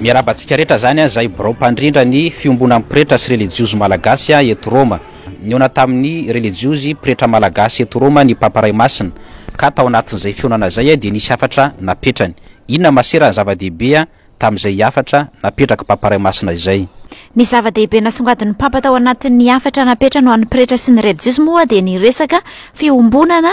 Miarahaba antsika rehetra zany a zay birao mpandrindra ny fiombonan'ny pretra sy relijiozy malagasy a eto Roma. Nihaona tamin'ny relijiozy pretra malagasy eto Roma ny Papa Ray Masina ka tao anatin'izay fihaonana zay a dia nisy hafatra napetrany. Inona masera ny zava-dehibe a tamin'izay hafatra napetrak'i Papa Ray Masina izay? Ny zava-dehibe nasongadin'ny Papa tao anatin'ny hafatra napetrany ho an'ny pretra sy ny relijiozy moa dia ny resaka fiombonana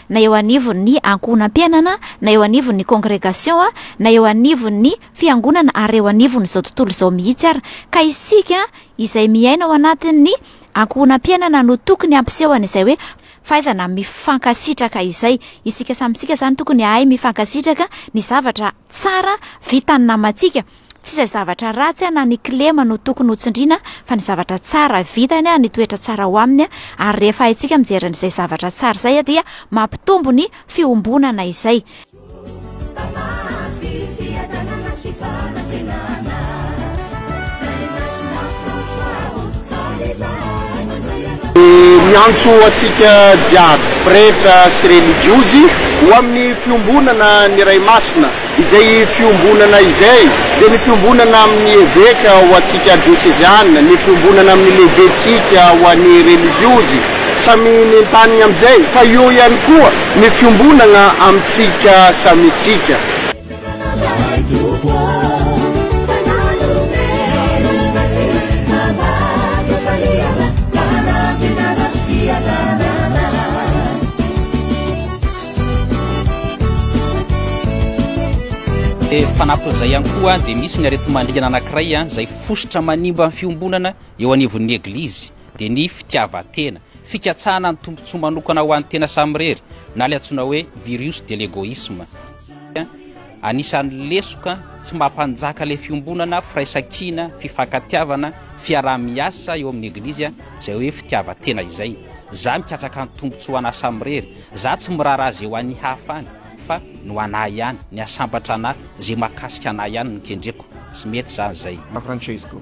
na eo anivon' ny ankohonam-piainana, na eo anivon' ny kongregasiô, na eo anivon' ny fiangonana ary eo anivon' izao tontolo izao mihitsy ara. Ka isika izay miaina ao anatin' ny ankohonam-piainana no tokony hampiseho an' izay hoe fahaizana mifankasitraka izay. Isika samy isika izany tokony hahay mifankasitraka ny zavatra tsara vitan' ny namantsika. Tsy izay zavatra ratsy na ny kilema no tokony ho tsindriana fa ny zavatra tsara vitany, ny toetra tsara ao aminy ary rehefa haintsika mijery an'izay zavatra tsara izay dia mampitombo ny fiombonana izay. Dia miantso antsika jiaby pretra sy relijiozy ho amin'ny fiombonana ny Ray Masina, izay fiombonana izay dia ny fiombonana amin'ny eveka ho antsika dioseziana, ny fiombonana amin'ny lehibentsika ho an'ny relijiozy samy nentaniny amin'izay, fa eo ihany koa ny fiombonana amintsika samintsika. Fanampin'izay ihany koa dia misy ny aretimandringana anankiray izay fositra manimba ny fiombonana eo anivon'ny Eglizy dia ny fitiavan-tena, fikatsahana ny tombontsoa manokana ho an'ny tena samirery na ilay antsoina hoe virus de l'égoïsme. Anisan'ny lesoka tsy maha-mpanjaka ilay fiombonana, firaisankina, fifankatiavana, fiaraha-miasa eo amin'ny Eglizy izay hoe fitiavan-tena izay. Za mikatsaka ny tombotsoa an'asa mirery, za tsy miraharaha ze ho an'ny hafa any fa ny ho an'ahy ihany, ny hasambatra an'ahy, ze mahakasika an'ahy ihany no kendreko. Tsy mety zany zay. Francesco,